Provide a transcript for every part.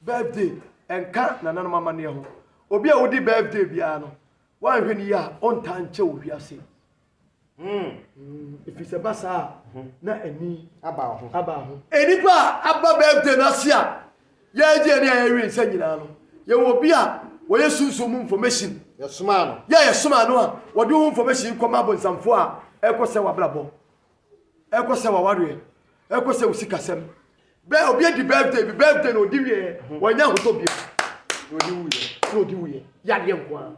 Birthday nka nananom amanneɛ ho. Obi a odi birthday biara no, woanhwɛ no yie a, ɔntaa nkyɛ wɔ wiase. Ɛfiri sɛ ba saa a, na ani aba ho. Aba ho. Nnipa a aba birthday no ase a yɛregye ani a yɛrewe nsa nyinaa no, yɛwɔ obi a wɔyɛ sunsum mu information. Yɛsomaa no. Yɛ a yɛsomaa no a, wɔde wo information kɔma abonsamfoɔ a ɛrekɔsɛe w'abrabɔ. Ɛkɔ sɛ w'awareɛ, ɛkɔ sɛ wo sikasɛm. Bɛ, obi adi birthday bi, birthday na ɔdi wieɛ, wannya ahotɔ bio. Na ɔdi wuiɛ. Na ɔdi wuiɛ. Yadeɛ nko ara.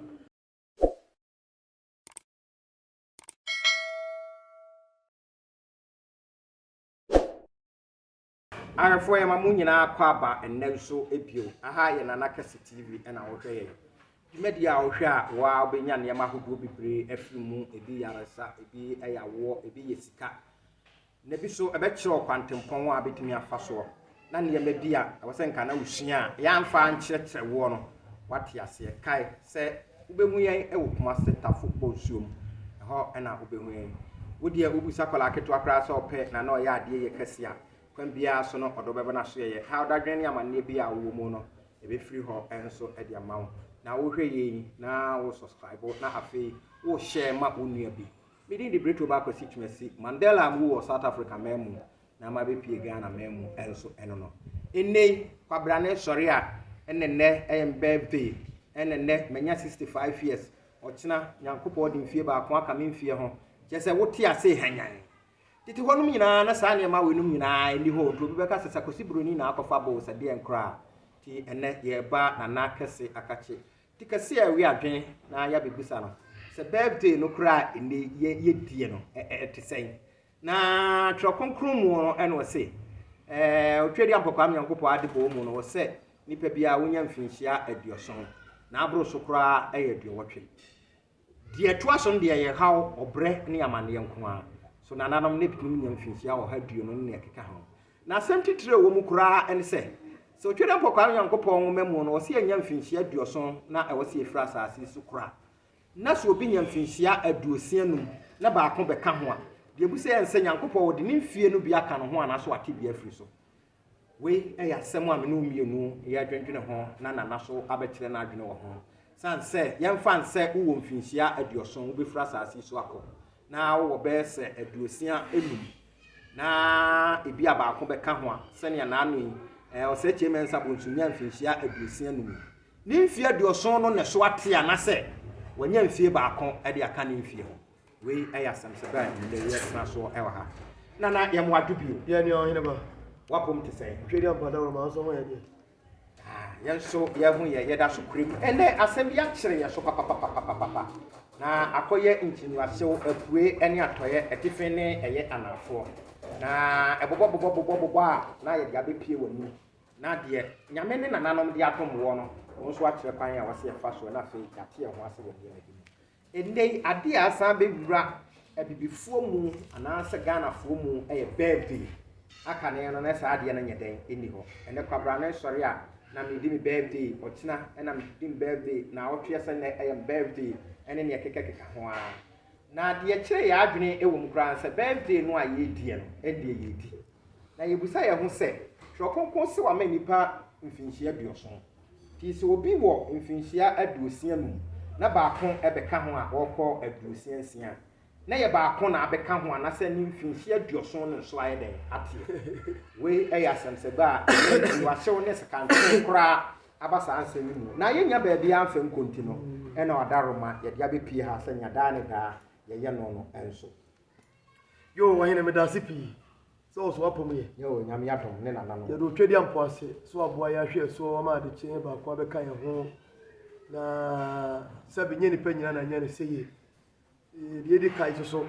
Arefoɔ yɛma mo nyinaa akɔ aba nnɛ nso bio. Aha yɛ Nana Kɛse TV na wohwɛ yɛn. Dwumadie a wohwɛ a wo ara wobɛnya nneɛma ahodoɔ bebree afiri mu. Ebi yɛ ayaresa, ebi yɛ awoɔ, ebi yɛ sika. Na ebi nso ɛbɛkyerɛ wo kwantempɔn a wobɛtumi afa soɔ. Na nneɛma bi a ɛwɔ sɛ nka na wosua a yɛamfa ankyerɛkyerɛ woɔ no, woate aseɛ. Kae sɛ Wobɛhu yɛn wɔ Kumase Tafo Bɔ Nsuo mu, ɛhɔ na wobɛhu yɛn. Wo deɛ wobisa akwadaa ketewa koraa sɛ ɔpɛ na na ɔyɛ adeɛ yɛ kɛseɛ a, kwan biara so no ɔde wobɛba n'asoɛeɛ. Haw, dadwene ne amanneɛ biara a wowɔ mu no, yɛbɛfiri hɔ nso de ama wo. Na wohwɛ yei na wo subscribe na afei wo share ma wo nua bi. Me din de Britto Ba Kwasi Twumasi, Mandela a mewɔ South Africa man mu. na ama abɛpue Ghana man mu nso ɛno no. Nnɛ yi, kwabrane sɔre a ɛna nnɛ ɛyɛ me birthday, ɛna nnɛ manya 65 years, ɔkyena Nyankopɔn ɔde mfie baako aka me mfeɛ ho, kyerɛ sɛ wote ase hanyan. Tete hɔ nom nyinaa na saa nneɛma wei nom nyinaa ɛni hɔ, nti obi bɛka sɛ Sakosi Broni na akɔfa bo sɛ deɛn koraa. Ti ɛnɛ yɛreba Nana kɛse Akakye ti kɛse a ɛwe adwen na yɛabɛbisa no sɛ birthday no koraa nnɛ yi yɛdie no ɛte sɛn? Na Twerɛ Kronkron mu no na ɔse, ɛɛ, Otwaadua Mpɔkwaa me Nyankopɔn adebɔɔ mu no, ɔsɛ nnipa biara wonya mfinhyia aduɔson, na aboro so koraa ɛyɛ aduɔwɔtwe. Deɛ ɛtoa so no deɛ ɛyɛ haw, ɔbrɛ ne amaneɛ nko ara. So nananom no bɛtumi nya mfinhyia ɔha aduonu ne nea ɛkeka ho? Na asɛm titire a ɛwɔ mu koraa ne sɛ, sɛ Otwaadua Mpɔkwaa me Nyankopɔn nwoma mu no, ɔse yɛnya mfinhyia aduɔson na ɛwɔ sɛ yɛfiri asase so kora Na sɛ obi nya mfinhyia aduosia num na baako bɛka ho a, deɛ ɛbu sɛ yɛ nsɛ Nyankopɔn ɔde ne mfie no bi aka no ho anaa sɛ wate bi afiri so. Wei ɛyɛ asɛm a me ne wo mmienu yɛ adwendwene ho na Nana so abɛkyerɛ n'adwene wɔ ho. Sane sɛ yɛmfa nsɛ wo wɔ mfinhyia aduɔson wo bɛfiri asaase yi so akɔ na wo wɔ bɛyɛ sɛ aduosia num na ɛbi a baako bɛka ho a, sɛnea naano yi, eh, Ɔsɛkyie Mensah Bonsu nyaa mfinhyia aduosia num yi, Ne mfeɛ aduɔson no na ɛso ate anasɛ wanya mfeɛ baako de aka ne mfeɛ ho. Wei yɛ asɛm sɛ bɛn na ɛyɛ tena soɔ wɔ ha. Nana yɛ mo adwo bio. Yɛ ne ɔhene ba. Wapom te sɛn? Ntwɛ di ampa da wɔ ma nso ho yɛ deɛ. Ah, yɛn nso yɛ ho yɛ yɛda so kure mu. Ɛnɛ asɛm bi akyere yɛ so papapapapapa. Na akɔyɛ nkyiniwasew apue ne atɔeɛ, atifi ne ɛyɛ anaafoɔ. Na ɛbobɔbobɔbobɔbobɔ a na yɛde abɛpie wɔ anim. Na deɛ Nyame ne nananom de adom woɔ no, wo nso akyerɛ kwan a wɔse yɛfa soɔ na afei yɛate ɛho ase wɔ nneɛma bi mu. Ɛnnɛ yi, adeɛ a asan bɛwura Abibifoɔ mu anaasɛ Ghanafoɔ mu yɛ birthday. Aka ne no na saa adeɛ no nyɛ dɛn, ɛnni hɔ. Ɛnnɛ kwabra no nsɔre a, na meredi me birthday, ɔkyena na meredi me birthday, naawɔtweɛ sɛ nnɛ yɛ me birthday, ɛne deɛ ɛkekakeka ho ara. Na deɛ ɛkyere yɛn adwene wɔ mu koraa ne sɛ birthday no a yɛrediɛ no, ɛndeɛ yɛredi. Na yebisa yɛn ho sɛ, Twerɛ Kronkron se wama nnipa mfinhyia aduɔson. Nti sɛ obi wɔ mfinhyia aduosia num na baako bɛka ho a ɔrekɔ aduosia nsia a, na ɛyɛ baako na abɛka ho anasɛ ne mfinhyia aduɔson no nso ayɛ dɛn ateɛ? Wei yɛ asɛmsɛbɛ a ɛyɛ nsuasew ne sekanten koraa aba saa nsɛm yi mu. Na yɛnnya baabiara mfa nko nti no, ɛna ɔda roma yɛde abɛpue ha sɛ nea daa ne daa yɛyɛ no no nso. Yoo ɔhene meda ase pii sɛ ɔso apɔ mu yɛ. Yoo nyame adom ne nana no. Yɛde otwa dua mpo ase so aboa yɛ ahwɛ ɛso ɔma ade kye baako abɛka yɛn ho na sɛbi nyɛ nipa nyina na nyɛ ne sɛ yie. Deɛ edi kan so so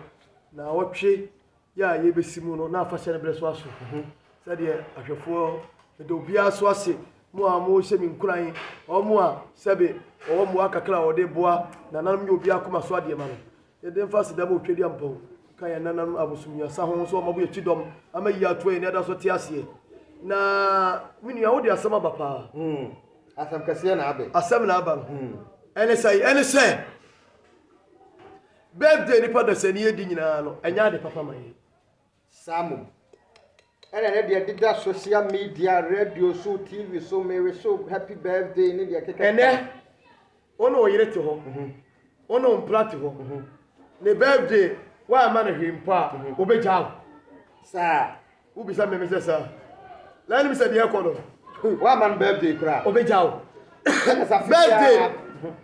na ɔtwe yɛ a yɛbɛsi mu no na afahyɛ no berɛ so aso sɛdeɛ ahwɛfoɔ meda obiara so ase mo a mo hyɛ me nkuran ɔmo a sɛbi ɔwɔ mmoa kakra a ɔde boa nananom yɛ obiara koma so adeɛ ma no. Yɛdze mfase dɛm otwediampɔw kã hɛn nananom abosomwiasã ho so ɔma bo yɛ kyidɔm, ama iyi ato hɛn aniadaso tse aseɛ. Na, me nua, wo de asɛm aba paa. Mm, asɛm kɛseɛ na abɛ. Asɛm na aba no. Ɛne sɛn? Ɛne sɛ, Birthday a nnipa da sɛnii adi nyinaa no, ɛnyɛ ade papa ma yɛn. Saa mmom. Ɛna ne deɛ deda social media, radio so, TV so, Mary so, happy birthday ne deɛ kekɛ. Ɛnɛ, wo ne wo yere te hɔ, mhm. wo ne wo mpra te hɔ, mhm. ne birthday woamma no hwee mpo a, mhm. wobɛgyaa wo. Saa. Wobisa mmeme sɛ saa. Na anim sɛ deɛ ɛkɔ no. Woamma no birthday koraa. Wobɛgyaa wo. Birthday,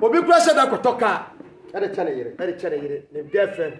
obi kora hyɛ da kɔtɔ kaa. Ɛde kyɛ ne yere. Ɛde kyɛ ne yere, ne girlfriend.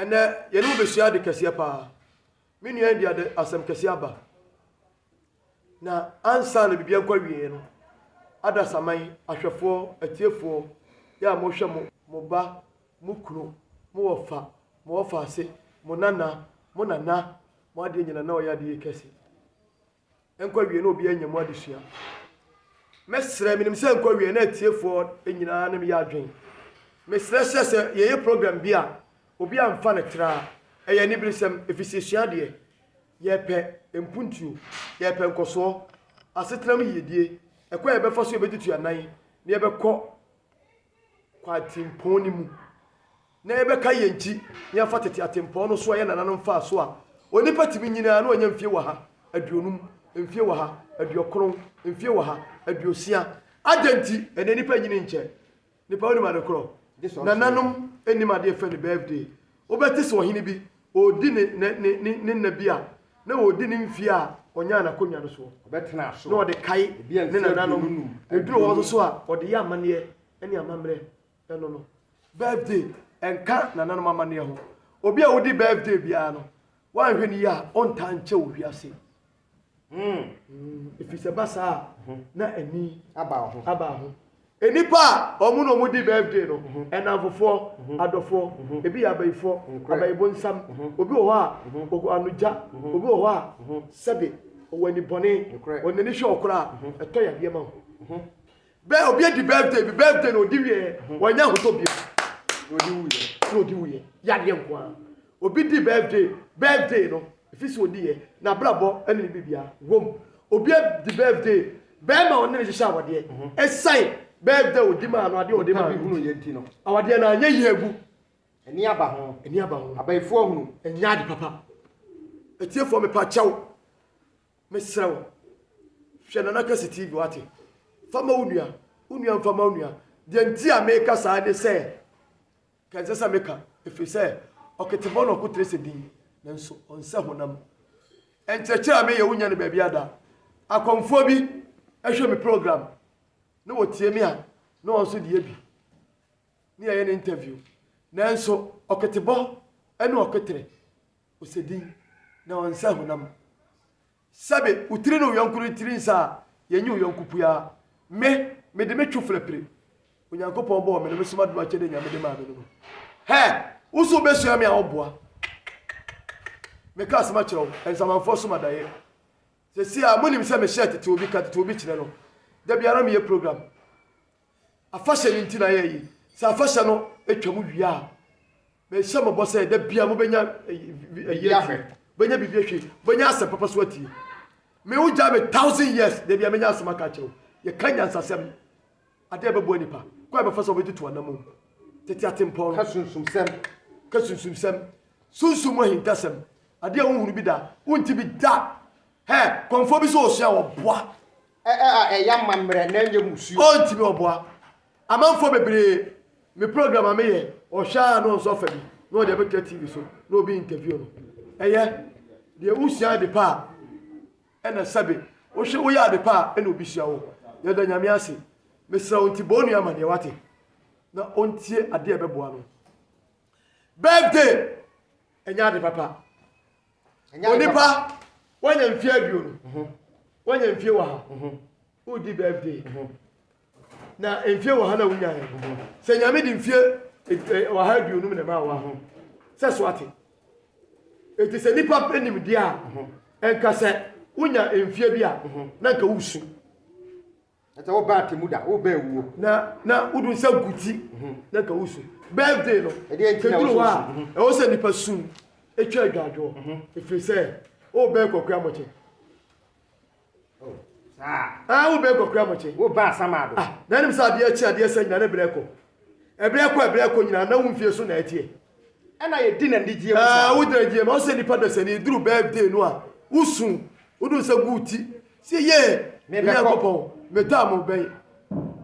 Ɛnnɛ, yɛne wo bɛsua ade kɛseɛ paa. Me nua yi de ade asɛm kɛseɛ aba. Na ansa na biribiara nkɔ awieeɛ no, adasaman, ahwɛfoɔ, atiefoɔ, yɛ a mohwɛ mo, mo ba, mo kunu, mo wɔfa, mo wɔfa ase, mo nana, mo nana, mo adeɛ nyina na ɔyɛ adeyɛ kɛse. nkɔ awie na obiara anya mu adesua. Mɛsrɛ, menim sɛ nkɔ awie na atiefoɔ nyinaa ne me yɛ adwene. Mesrɛ sɛ sɛ yɛyɛ program bi a, obi amfa no tra a, ɛyɛ aniberesɛm, ɛfiri sɛ yɛsua adeɛ. Yɛpɛ mpuntuo, yɛpɛ nkɔsoɔ, asetena mu yiedie, ɛkwan a yɛbɛfa so yɛbɛtutu yɛn nan na yɛbɛkɔ kwantempɔn no mu, na yɛbɛka yɛn ti na yɛafa tete atempɔn no so a ɛyɛ nananom mfaa so a, onipa tumi nyini ara na ɔnya mfie wɔ ha aduonum, mfie wɔ ha aduokron, mfie wɔ ha aduosia. Adɛn nti? Ɛnnɛ nnipa nyini nkyɛ. Nnipa wonim ade korɔ? Nananom nnim adeɛ fɛ no birthday. Wobɛte sɛ ɔhene bi, ɔredi ne, ne, ne, ne, ne nna bi a na ɔredi ne mfeɛ a ɔnyaa n'akonnwa no soɔ, Ɔbɛtena na aso. ɔde kae Ebi a ne mfeɛ nananom, aduonu num, na ɛduru hɔ nso aduonu. so a, ɔde yɛ amanneɛ ne amammerɛ. Ɛno no, birthday nka nananom amanneɛ ho. Obi a odi birthday biara no, woanhwɛ no yie a, ɔntaa nkyɛ wɔ wiase. ɛfiri sɛ ba saa a na ani aba ho aba ho nnipa a ɔmo na ɔmo di birthday no ɛnamfofoɔ adɔfoɔ ebi yɛ abayifoɔ abayibo nsam obi wɔ hɔ a ɔwɔ anogya obi wɔ hɔ a sɛbe ɔwɔ anibɔne ɔnani hwɛ ɔkora a ɛtɔ yadeɛ ma ho Bɛ obi adi birthday bi birthday na odi wieɛ mhm. wɔnyɛ ahotɔ bio na odi wuyɛ na odi wuyɛ yadeɛ nko ara obi di birthday birthday no efi so odi yɛ na abrabɔ ɛne ne bibia wɔm obi adi birthday bɛrima ɔne ne hyehyɛ awadeɛ mhm. ɛsan birthday odi maa no adeɛ odi maa no awadeɛ na anyɛ yie egu ɛni aba ho ɛni aba ho abayifoɔ hunu ɛnyɛ adi papa etiefoɔ mepa kyɛw. Mesrɛ wo, hwɛ Nana Kwesi TV, wate? Fa ma wo nua, wo nua mfa ma wo nua. Deɛ nti a meka saa ne sɛ, ka ɛnsɛ sɛ meka, ɛfiri sɛ ɔketebɔ na ɔko tere sɛ din, nanso ɔnsɛ honam. Nkyerɛkyerɛ a meyɛ wonnya no baabiara da. Akɔmfoɔ bi hwɛ me program, na wɔtie me a, na wɔn nso de yɛ bi, na yɛyɛ no interview. Nanso ɔketebɔ ne ɔko tere, Ɔsɛ din, na ɔnsɛ honam. Sɛbe wo tiri ne wo yɔnko no tiri nsɛ a, yɛnyɛ wo yɔnko pua. Me, mede me twoflɛ pire Onyankopɔn bɔɔ me no, me soma dom akyɛdeɛ Nyame de maa me no mu. Hɛ! Wo so wobɛsua me a, woboa. Kikikiki. Meka asɛm akyerɛ wo, nsamanfoɔ som adaeɛ. Seesei a, monim sɛ mehyɛɛ tete obi, ka tete obi kyerɛ no. Da biara meyɛ program. Afahyɛ no nti na yɛɛyi. Sɛ afahyɛ no twam wie a, Mehyɛ mo bɔ sɛ da bia mobɛnya ɛyi ahwɛ, bɛnya biribi ahwɛ, bɛnya asɛm papa so atie. Me wo gya me thousand years, da bia menya asɛm aka akyerɛ wo. Yɛka nyansasɛm, ade a ɛbɛboa nipa, kwan a ɛbɛfa so a wɔbɛtutu anamom. Tete atempɔn. Ka sunsumsɛm. Ka sunsumsɛm. Sunsum mu ahintasɛm. Ade a wonhunu bi da, wonte bi da. Hɛ, kɔmfoɔ bi sɛ ɔsua a, ɔboa. Ɛ, ɛ, a, ɛyɛ amammerɛ na ɛnyɛ musuo. Ɔntumi ɔboa. Amanfoɔ bebree me program a meyɛ ɔhwɛ a na ɔnso afa bi na ɔde abɛtwa TV so na obi interview no. Ɛyɛ deɛ wosua ade pa a ɛna sɛbe wohwɛ woyɛ ade pa a ɛna obi sua wo. Yɛda Nyame ase. Mesrɛ wo nti bɔ onua amaneɛ wate na ɔntie adeɛ a ɛbɛboa no. Birthday ɛnyɛ ade papa. Onipa wanya mfie aduonu wanya mfie wɔ ha wodi birthday. Na mfie wɔ ha na wonyae. Sɛ Nyame de mfie ɔha aduonum na ɛmaa wa ho sɛ so ate. Eti sɛ nipa pɛ nimdeɛ a, ɛnka sɛ wonya mfie bi a, na nka wosu. Ɛsɛ wobɛ atemu da, wobɛ awuo. Na na wodu nsa gu ti, na nka wosu. Birthday no, kɛduru hɔ a, ɛwɔ sɛ nipa sum, ɛtwa adwadwoɔ, ɛfiri sɛ wobɛ kɔkora mɔkyɛ. Ah, wo bɛ kɔkura mo kye. Wo ba asama do. Ah, na nim sa adeɛ kye adeɛ sa nyina ne brɛ kɔ. Ɛbrɛ kɔ ɛbrɛ kɔ nyina na wo mfie so na ɛteɛ. Ɛna yɛ di na ndigyeɛ mu ah, sa. Ah, wo gyina gyeɛ ma ɔsɛ nipa dasani duru birthday no a wo su wo do nsa gu ti. Se ye. Me bɛ kɔ. Kopɔn, me taa mo bɛn.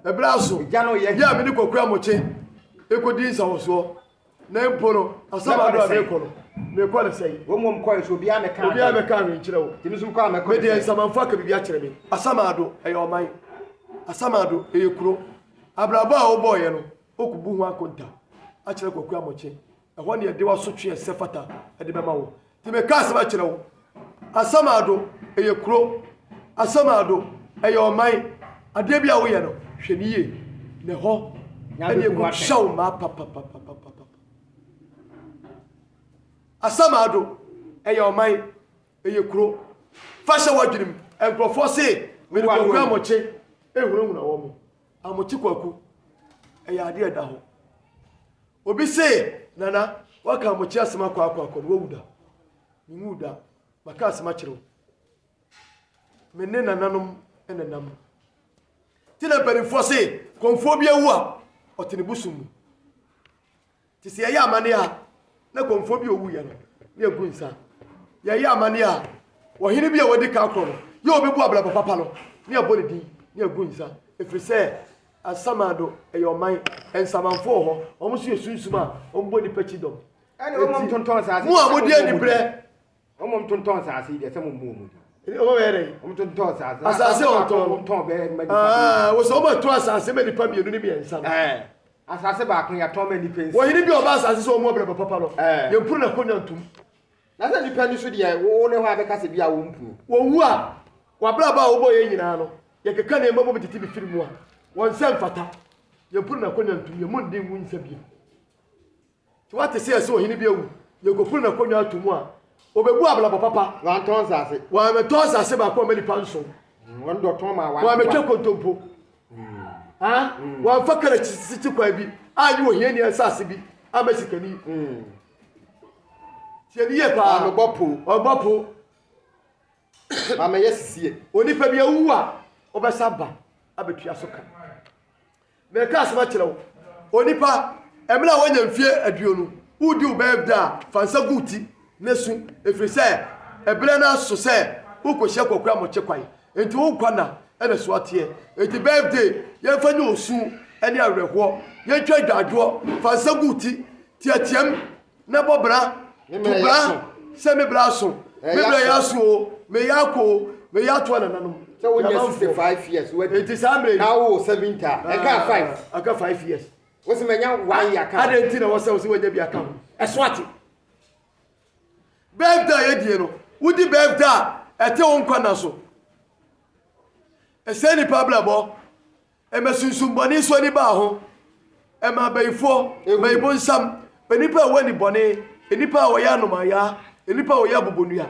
Ɛbrɛ aso. Gya no yɛ. Yɛ a me ne kɔkura mo kye. Ekodi nsa wɔ soɔ. Na mpo no, asɛm a merekɔ no, merekɔ no sɛn? Wɔn wɔn kɔɛ so obiara mɛka adwene. Obiara mɛka adwene nkyerɛ wo. Tèmi nso kɔ a mɛkɔ no sɛn? Medeɛ nsamanfo aka biribi akyerɛ me. Asamado ɛyɛ ɔman. Asamado ɛyɛ kuro. Abrabɔ a wobɔɔyɛ no, wokubu ho akonta akyerɛ Kwaku Amokyɛ. Ɛhɔ ne ɛde w'asotwe a ɛsɛ fata de bɛma wo. Te me ka asɛm akyerɛ wo. Asamado ɛyɛ kuro. Asamado ɛyɛ ɔman. Adeɛ bi a woyɛ no, hwɛ no yie. Na ɛhɔ ɛne ɛkɔtwa wo mmaa papapapapapa. Asamado ɛyɛ ɔman, ɛyɛ kuro. Fa hyɛ w'adwene mu. Nkurɔfoɔ se mede kwaku amokye ɛhunahuna wɔn. Amokye kwaku ɛyɛ adeɛ ɛda hɔ. Obi se, Nana, woaka Amokyɛ asem akɔ akɔ akɔ no, woawu da? Menwuu da. Maka asem akyerɛ wo. Me ne nananom na nam no. Nti na mpanimfoɔ se, kɔmfoɔ bi awu a, ɔte ne bosom mu. Nti sɛ yɛyɛ amanneɛ a, na kɔmfoɔ bi ɔwu yɛ no, ne yɛgu nsa. Yɛyɛ amanneɛ a, ɔhene bi a wadi ka akorɔ no, yɛ ɔbɛbu abrabɔ papa no, ne yɛbɔ ne din, ne yɛgu nsa. Ɛfiri sɛ, Asamando yɛ ɔman, Nsamanfo wɔ hɔ, wɔn nso yɛ sunsum a wɔbɔ nnipa kyidɔm. Ɛne wɔn Enti, ntontɔn asase. mo a modi Wɔn anibrɛ, Wɔn ntontɔn asase deɛ sɛ mo mmu wɔn din. ɛne wɔn bɛyɛ dɛn? Wɔn ntontɔn asase. Asase a wɔtɔn Baako no. wɔtɔn bɛyɛ ma nipa Aa, mmienu. wɔsɛ wɔn atɔn asase ma nnipa mmienu ne mmiɛnsa no. Ɛɛ, asase baako yɛatɔn ma nnipa nsia. Ɔhene bi a ɔba asase so wɔ mu ɔbrɛ ba papa no, Ɛɛ. yɛmpuru n'akonnwa ntom. Na sɛ nnipa ani so deɛ wo ne hɔ a bɛka sɛ bi a wɔmpu no. Wɔwu a, w'abrabɔ a wobɔeɛ nyinaa no, yɛkeka nneɛma bom tete bi firi mu a, wɔn nsa mfata. Yɛmpo no n'akonnwa ntom, yɛn mu nde nwu nsa bio. Nti woate sɛ ɛsɛ ɔhene bi awu, yɛnkɔfiri n'akonnwa ato mu a, ɔbɛbu abrabɔ papa. Wɔantɔn nsase. Wɔammɛtɔ nsase baako amma nnipa nson. Wɔn dɔ tɔn maa wɔn akoa. Wɔammɛtwa nkontompo. Wɔamfa kar akyi tete kwan bi annye ohiani nsase bi amma sikani. Tie ne yie paa. Ɔnobɔ po. Ɔbɔ po. Maame yɛ sisie. Onipa bi awu a ɔbɛsa aba abɛtua so ka. Mɛka asɛm akyerɛ wo. Onipa ɛmena a woanya mfie aduonu wodi wo bɛyɛ da a fa nsa gu ti na su ɛfiri sɛ ɛberɛ no aso sɛ wokɔhyia kwakura mɔkye kwan. Enti wo nkwa nna na so ateɛ? Enti birthday yɛmfa nyɛ osu ne awerɛhoɔ Yɛntwa adwadwoɔ, fa nsa gu wo ti Teateam na bɔ bra, to bra sɛ me bra aso Me bra yɛ aso oo, me yɛ akɔ oo Me yɛ ato anananom Sɛ wo nyɛ 65 years wadi Enti saa mmerɛ yi na wo wɔ 70 a, ɛka 5? Ɛka 5 years Wo se manya 1 year ka ho Adɛn nti na wɔ sɛ wo se wanya bi aka ho? Ɛso ate? Bɛɛda a yɛdie no, wodi bɛɛda a ɛte wo nkwa nna so. Ɛsɛe nnipa abrabɔ. Ɛma sunsumbɔne so ani baa ho. Ɛma abayifoɔ, bayibonsam, nnipa a ɛwɔ anibɔne, nnipa a wɔyɛ anomayaa, nnipa a wɔyɛ abobonua,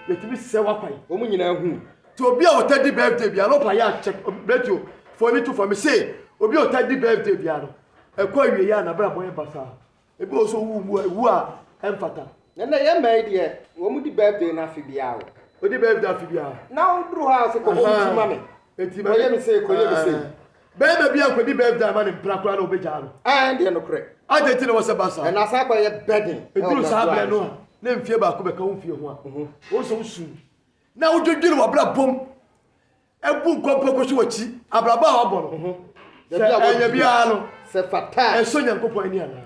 yɛtumi sɛ w'akwan. Wɔn nyinaa hu. Nti obi a ɔta di birthday bia, no pa yɛ akyɛ, radio, foni to fa. Mese obi a ɔta di birthday bia no, ɛkɔ awieɛ a nabrabɔ yɛ basaa. Ebi wɔ hɔ nso ɔwu wu wu a ɛmfata. Na ɛnna yɛn mmaa yi deɛ wɔn di birthday no afe biara o. Wɔdi birthday afe biara. Na woduru hɔ a sɛ kɔbɔ wo ti ma me. Eti ma kɔyɛ me sei kɔyɛ me sei. Bɛrima bi ankɔdi birthday ama ne mpena koraa na wɔbɛgyaa no. Ɛɛ deɛ nokorɛ. Adɛn nti na ɛwɔ sɛ ɛba saa? Ɛnna asan akɔyɛ burden. Ɛduru saa berɛ no a na mfie baako bɛka wo mfie ho a, wohu sɛ wosu na wodwennwene w'abrabɔ mu. Ɛbu nkwa mpo kɔ so wɔ akyi abrabɔ a wabɔ no ho. Sɛ ɛyɛ biara no, ɛsɔ Nyankopɔn ani anaa?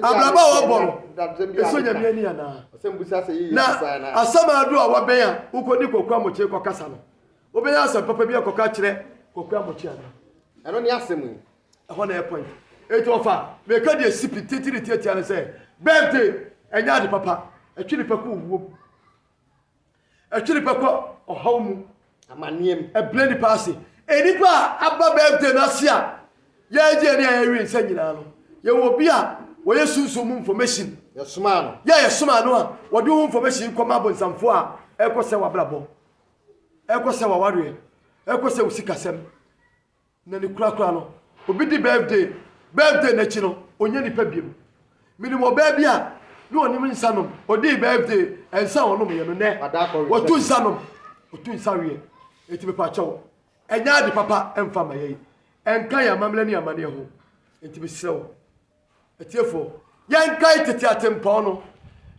Abrabɔ a wabɔ no, ɛsɔ Nyame ani anaa? Na asamado a wabɛn a wokɔdi Kwaku Amokyere kɔkasa no, wobɛnya asɛm papa bi akɔka akyerɛ Kwaku Amokyere anaa? Ɛno ne asɛm yi. Ɛhɔ na ɛyɛ point. Eti ɔfa meka deɛ si pititiri tiatia no sɛ birthday ɛnyɛ ade papa, ɛtwe nipa kɔ owuo mu. Ɛtwe nipa kɔ ɔhaw mu. Amanneɛ mu. Ɛbrɛ nnipa ase. Nnipa a aba birthday no ase a yɛregye ani a yɛrewe nsa nyinaa no, yɛwɔ obi a wɔyɛ sunsum mu information. Yɛsomaa no. Yɛ yɛsomaa no a, wɔde wo information kɔma abonsamfoɔ a ɛrekɔsɛ w'abrabɔ, ɛrekɔsɛ w'awareɛ, ɛrekɔsɛ wo sikasɛm, Na ne kura kura no obi di birthday birthday no akyi no ɔnyɛ nipa biom menim ɔbaa bi a ne ɔnim nsa nom ɔdii birthday ɛnsa a ɔnom yɛ no nɛ ɔtu nsa nom ɔtu nsa weɛ ɛti mepa kyɛw ɛnyɛ ade papa ɛmfa ma yɛi ɛnka yɛ amammerɛ ne amaneɛ ho ɛti mesrɛ wo atiefoɔ yɛnkae tete atempɔn no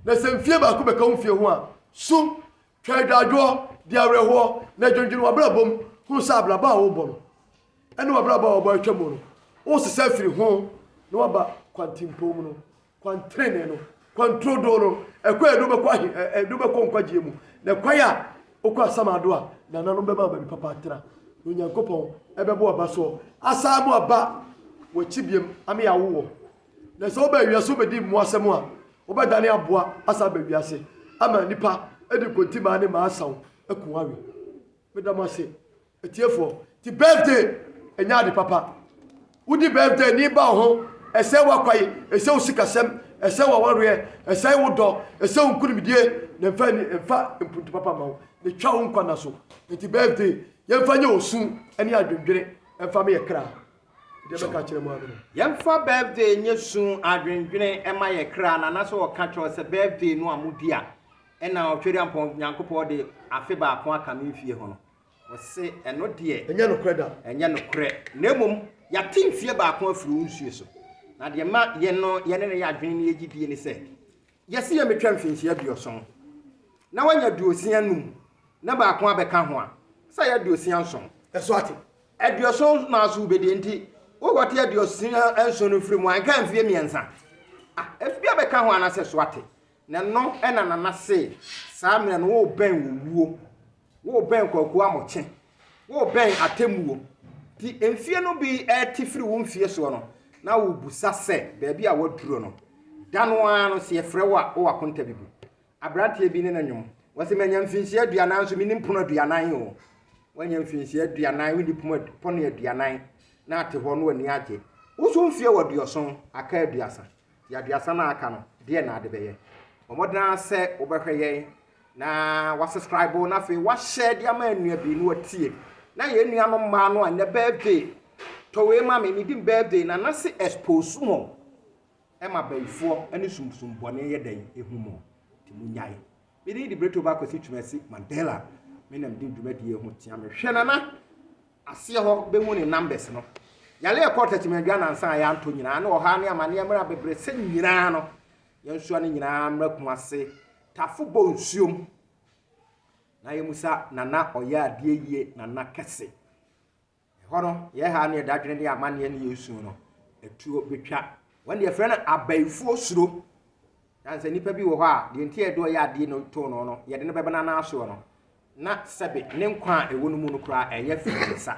na sɛ mfie baako bɛka wo mfie ho a so Twa agyaadwoɔ, di awerɛhoɔ, na dwendwene w'abrabɔ mu hunu sɛ abrabɔ a worebɔ no ne w'abrabɔ a wɔabɔ atwa mu no, woresesa afiri ho na woaba kwantempɔn mu no, kwan trenee no, kwan turodoo no, ɛkwan a ɛde wobɛkɔ ahe, ɛde wobɛkɔ nkwagyeɛ mu, na kwan a wokɔ asamado a nananom bɛma baabi papa atena, na Onyankopɔn ɛbɛbɔ aba soɔ, asan mu aba w'akyi biam ama yɛawo wɔ. Na sɛ woba wiase wobɛdi mmoa asɛm a, wobɛdane aboa asan aba wiase ama nnipa de nkontimaa ne mmaa asaw aku wɔn awe. Meda mo ase, atiefoɔ. Ti birthday ɛnyɛ ade papa. Wodi birthday ani ba wo ho, ɛsɛe w'akwae, ɛsɛe wo sikasɛm, ɛsɛe w'awareɛ, ɛsɛe wo dɔ, ɛsɛe wo nkunimdie, na ɛmfa ani ɛmfa mpuntu papa mma wo, na ɛtwa wo nkwa nna so. Enti birthday, yɛmfa nyɛ osu ne adwendwene mfa meyɛ kra. Yɛmfa birthday nyɛ su adwendwene ɛma yɛ kra na anasɛ ɔka kyerɛ sɛ birthday no a modi a ɛna ɔtweriampɔn Nyankopɔn de afe baako aka me mfie ho no ɔse ɛno deɛ ɛnyɛ nokorɛ da ɛnyɛ nokorɛ na mmom yɛate mfie baako afiri wo nsuo so na deɛ ma yɛn no yɛne no yɛ adwene ne yɛgyidie ne sɛ Gyese yɛ metwa mfinhyia aduoson na wanya aduosia num na baako abɛka ho a, sɛ ayɛ aduosia nson. So ate? Aduoson naaso wobedie nti wo kɔte aduosia nson no firi mu a, nka mfie mmiensa a, efi bi abɛka ho anasɛ? So ate? Na ɛno na Nana see, saa mmerɛ no wo bɛn owuo. Worebɛn Kwaku Amokyɛ, worebɛn atemmuo. Nti mfeɛ no bi rete firi wo mfeɛ soɔ no, na wobisa sɛ baabi a woaduro no. Da no ara no, sɛ yɛfrɛ wo a, wowɔ akonta bi bu. Aberanteɛ bi ne no nwom. Ɔse, Manya mfinhyia aduanan nso mennim pono aduanan o. Woanya mfinhyia aduanan, wonni pono pono aduanan, na ate hɔ na w'ani agye. Wo nso wo mfeɛ wɔ aduɔson, aka aduasa. Nti aduasa no a aka no, deɛn na wode bɛyɛ? Bɔ mmɔden ara sɛ wobɛhwɛ yɛn Na wasescribe na afei wahyɛ de ama anua bi na watie na yɛn nua no mmaa no a nnɛ birthday tɔ wei ma me ne din birthday na nase expose mo ɛma bayifoɔ ne sumsum bɔne yɛ dɛn ehu mo te mo nyae me din de breto ba kwasi twumasi mandela me nam di dwumadie ho tia me hwɛ nana aseɛ hɔ bɛhu ne numbers no yale ɛkɔɔ tɛkyemɛdwa nansa a yɛantɔ nyinaa ne ɔhaa ne amaneɛ mmerɛ bebrɛ sɛ nyinaa no Yɛnsoa ne nyinaa mmra Kumase tafo bɔ nsuom na yɛmusa Nana ɔyɛ adeɛ yie Nana kɛse. Ɛhɔ no yɛ ha ne ɛdadwene ne amaneɛ ne yɛ suo no atuo bɛtwa. Wɔn deɛ frɛ no abayifoɔ suro. Ɛsiane sɛ nnipa bi wɔ hɔ a deɛ nti a yɛde ɔyɛ adeɛ no too no no yɛde no bɛbena no asoɔ no na sɛbe ne nkwa a ɛwɔ no mu no koraa ɛyɛ firi ne nsa.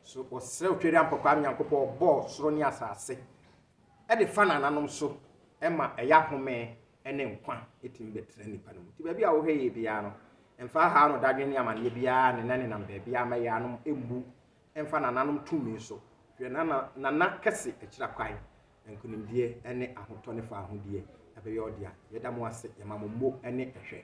So wɔsrɛ wo Tweriampɔkwaa Nyankopɔn ɔbɔɔ soro ne asase de fa nananom so ma ɛyɛ ahome ne nkwa tumi bɛtena nnipa no mu. Nti baabi a wohwɛ yɛ biara no, mfa ahaw no dadwen ne amanneɛ biara ne nenam baabi a ma yɛanom mmu mfa nananom tumi so. Hwɛ nana nana kɛse akyira kwan, nkonimdie ne ahotɔ ne faahodie ɛbɛyɛ ɔdea. Yɛda mo ase, yɛma mo mmo ne ɛhwɛ.